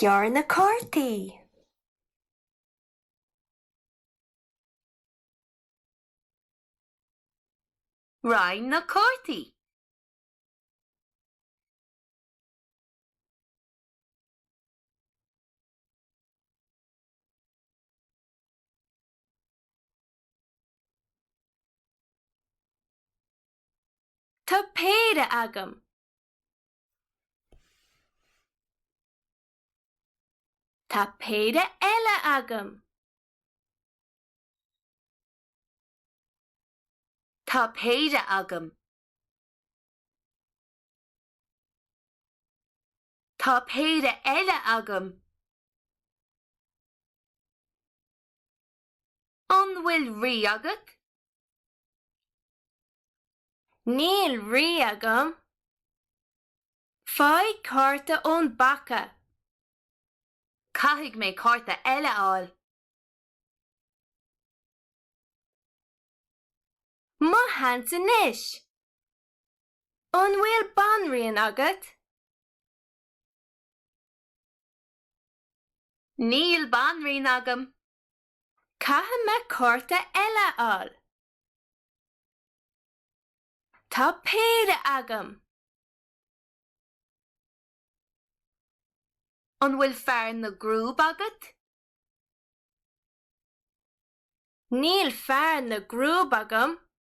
Gearr na cártaí. Roinn na cártaí. Tá péire agam. Tá péire eile agam. Tá péire agam. Tá péire eile agam. An bhfuil rí agat? Níl rí agam. Faigh cárta ón bpaca. Caithfidh mé cárta eile fháil. Mo sheans anois! An bhfuil banríon agat? Níl banríon agam. Caithfidh mé cárta eile a fháil. Tá péire agam. An bhfuil fear na gcrúb agat? Níl fear na gcrúb agam.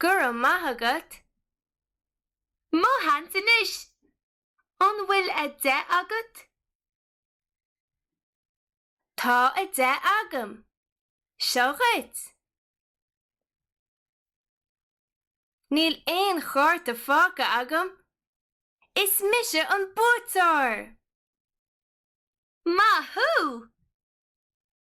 Go raibh maith agat. Mo sheans anois! An bhfuil a deich agat? Tá a deich agam. Seo dhuit. Níl aon chárta fágtha agam. Is mise an buaiteoir! Maith thú!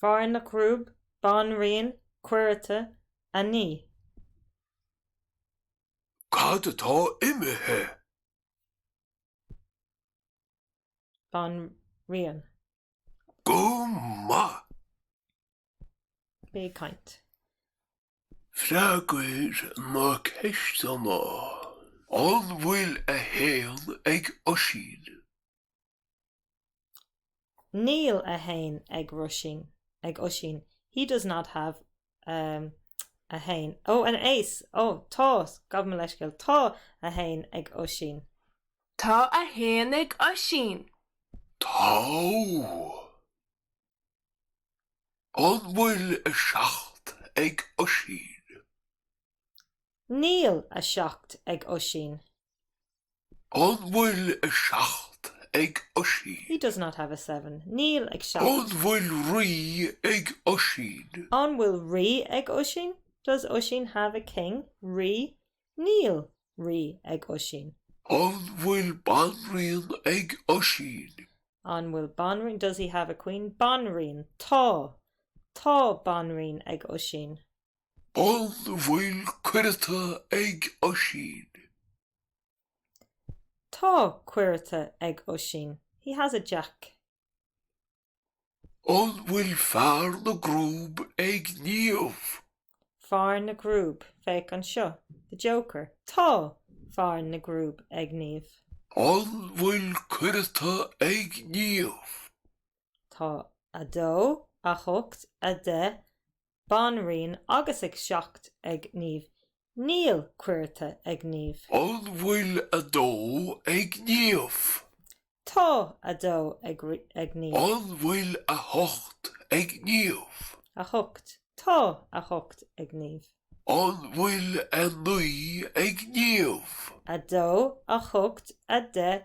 Fear na gcrúb, banríon, cuireata, a naoi. Cad atá imithe? banríon. Go maith! Freagair na ceisteanna, An bhfuil 1 ag Oisín? Níl 1 ag ag Oisín. He does not have a 1. Oh, an aon! Oh, tá! Gabh mo leithscéal. Tá 1 ag Oisín. Tá 1 ag Oisín. Tá. An bhfuil a seacht ag Oisín? Níl a seacht ag Oisín. An bhfuil a seacht ag Oisín? He does not have a seven. Níl a seacht. An bhfuil rí ag Oisín? An bhfuil rí ag Oisín? Does Oisín have a king? rí. Níl rí ag Oisín. An bhfuil banríon ag Oisín? An bhfuil banríon Does he have a queen? banríon Tá. Tá banríon ag Oisín. An bhfuil cuireata ag Oisín? Tá cuireata ag Oisín. He has a jack. An bhfuil fear na gcrúb ag Niamh? fear na gcrúb, féach anseo, the joker. Tá fear na gcrúb ag Niamh. An bhfuil cuireata ag Niamh? Tá. a dó, a hocht, a deich, banríon agus a seacht ag Niamh Níl cuireata ag Niamh. An bhfuil a dó ag Niamh? Tá a dó ag Niamh. An bhfuil a hocht ag Niamh? a hocht Tá a hocht ag Niamh. An bhfuil a naoi ag Niamh? a dó a hocht a deich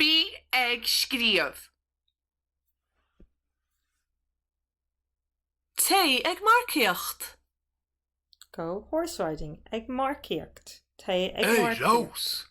Bí ag Scríobh! Téigh ag Marcaíocht! Go horse-riding, ag marcaíocht, téigh ag marcaíocht.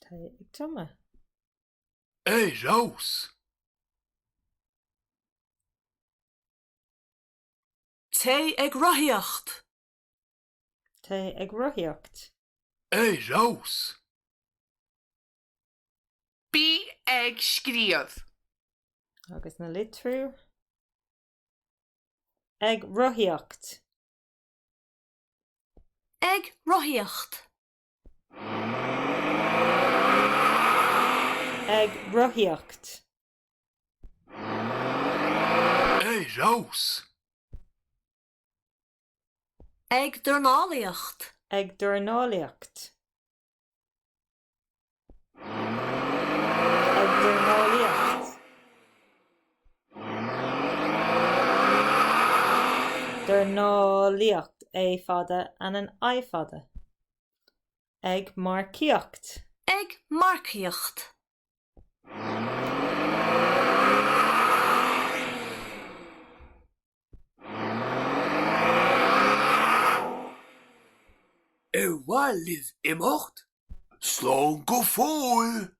Tá sé ag triomú. Ar fheabhas! Téigh ag rothaíocht. Téigh ag rothaíocht. Ar fheabhas! Bí ag scríobh. Agus an litriú ag rothaíocht. Ag rothaíocht. ag rothaíocht. ar fheabhas! ag dornálaíocht. ag dornálaíocht. ag dornálaíocht. dornálaíocht a fada and an i fada. ag marcaíocht. ag marcaíocht. Ar mhaith libh imeacht? Slán go fóill!